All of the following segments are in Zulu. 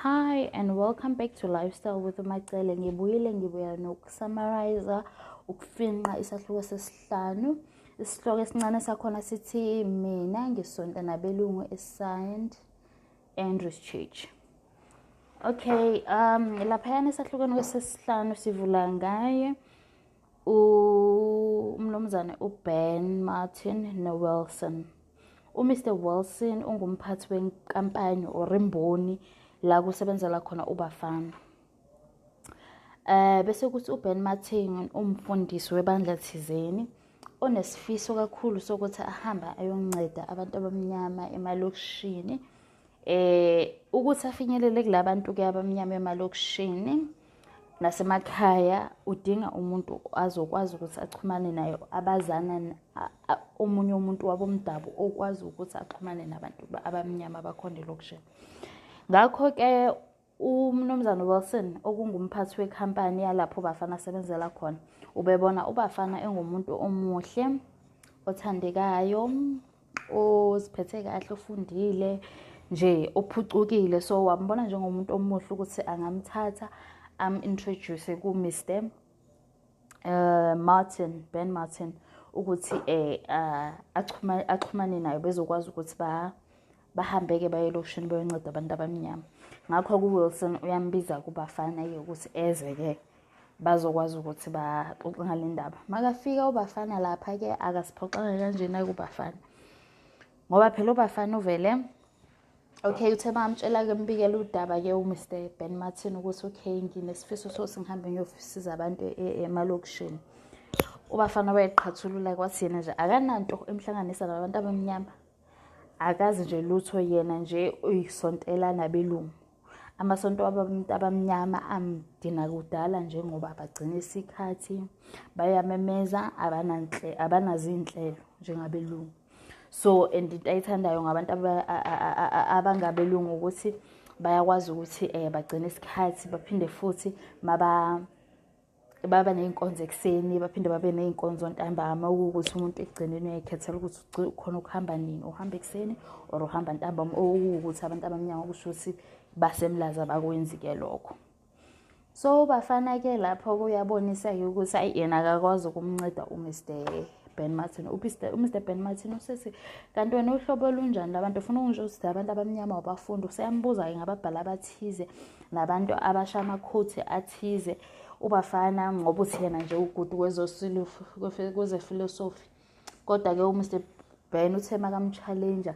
Hi and welcome back to Lifestyle with Umacele. Ngibuyile ngibuya nokusummarize ukufinqa isahluko sesihlanu. Isihloko esincane sakhona sithi mina ngisonta nabelungu eSaint Andrews Church. Okay, um laphayana esahlukweni kwesesihlanu sivula ngaye umnumzane uben martin nowilson umr wilson ungumphathi wenkampani or imboni la kusebenzela khona ubafana um bese kuthi uben martin umfundisi webandla thizeni onesifiso kakhulu sokuthi ahambe ayonceda abantu abamnyama emalokishini eh ukuthi afinyelele kulabantu ke abamnyama emalokishini nasemakhaya udinga umuntu azokwazi ukuthi axhumane naye abazana omunye umuntu wabomdabu okwazi ukuthi axhumane nabantu abamnyama abakhona elokishini ngakho-ke umnumzane wilson okungumphathi wekhampani yalapho ubafana asebenzela khona ubebona ubafana engumuntu omuhle othandekayo oziphethe kahle ofundile nje ophucukile so wambona njengomuntu omuhle ukuthi angamthatha am-introduce ku-mr uh, martin ben martin ukuthi eh uh, axhumane axhumane nayo bezokwazi ukuthi ba bahambeke baye elokishini bayonceda abantu abamnyama ngakho ku-wilson uyambiza kubafana-ke ukuthi eze-ke bazokwazi ukuthi baxoxe ngale ndaba makafika ubafana lapha-ke akasiphoxanga kanjena kubafana ngoba phela ubafana uvele okay uthe bamtshela-ke mbikela udaba-ke umr ben martin ukuthi okay nginesifiso so singihambe ngiyosiza abantu e-, e-, emalokishini ubafana wayeqhathulula kwathi yena nje akananto emhlanganisa nabantu abamnyama akazi nje lutho yena nje uyisontela nabelungu amasonto abantu abamnyama amdina kudala njengoba bagcina isikhathi bayamemeza abanazinhlelo njengabelungu so and into ayithandayo ngabantu abangabelungu ukuthi bayakwazi ukuthi um bagcine isikhathi baphinde futhi maba baba ney'nkonzo ekuseni baphinde babe ney'nkonzo ntambama okuwukuthi umuntu ekugcineni uyayikhethela ukuthi khona ukuhamba nini uhamba ekuseni or uhamba ntambama okuwukuthi abantu abamnyama kusho ukuthi basemlaza bakwenzi-ke lokho so bafana-ke lapho kuyabonisa-ke ukuthi ayi yena akakwazi ukumnceda umr ben martin umr ben martin usesi kanti wena uhlobo olunjani labantu ufuna ukungisho ukuthi abantu abamnyama wabafunda useyambuza-ke ngababhali abathize nabantu abasha amakhuthi athize ubafana ngoba uthi yena nje ugudu kwezefilosofi kodwa-ke umr ben uthe makamchallenger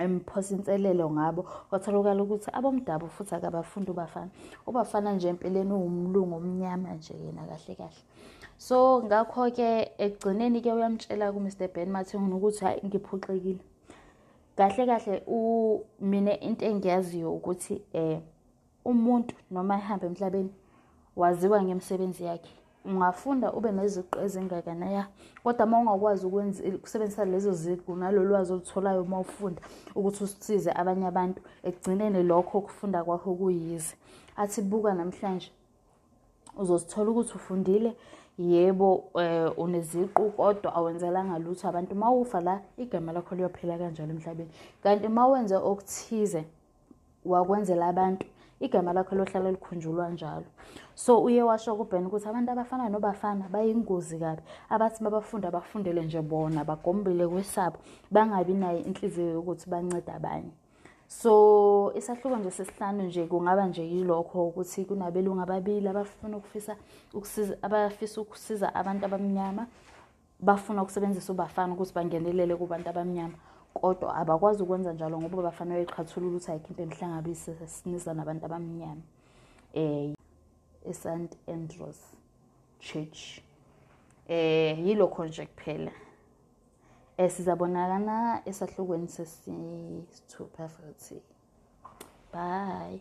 emphosa inselelo ngabo kwatholakala ukuthi abomdabu futhi akabafundi ubafana ubafana nje empeleni uwumlungu omnyama nje yena kahle kahle so ngakho-ke ekugcineni-ke uyamtshela kumr ben mathengini ukuthi hhayi ngiphoxekile kahle kahle mina into engiyaziyo ukuthi um umuntu noma ehamba emhlabeni waziwa ngemisebenzi yakhe ungafunda ube neziqu ezingakanaya kodwa uma ungakwazi ukusebenzisa lezo ziqu nalolwazi olutholayo uma ufunda ukuthi usize abanye abantu ekugcineni lokho ukufunda kwakho kuyize athi buka namhlanje uzosithola ukuthi ufundile yebo um uneziqu kodwa awenzelanga lutho abantu uma ufa la igama lakho liyophela kanjalo emhlabeni kanti uma wenze okuthize wakwenzela abantu igama lakho lohlala likhunjulwa njalo so uye washo kubhena ukuthi abantu abafana nobafana bayingozi kabi abathi babafunde abafundele nje bona bagombele kwesabo bangabi nayo inhliziyo yokuthi bancede abanye so isahluko nje sesihlanu nje kungaba nje yilokho ukuthi kunabelungu ababili abafuna ukufisa ukusiza abafisa ukusiza abantu abamnyama bafuna ukusebenzisa ubafana ukuthi bangenelele kubantu abamnyama kodwa abakwazi ukwenza njalo ngoba bafana beqhathulula ukuthi ayikho into enihlangabise siniza nabantu abamnyama eh eSt Andrews Church eh yilokho nje kuphela Eh sizabonakana esahlukweni sesithupha futhi. Bye.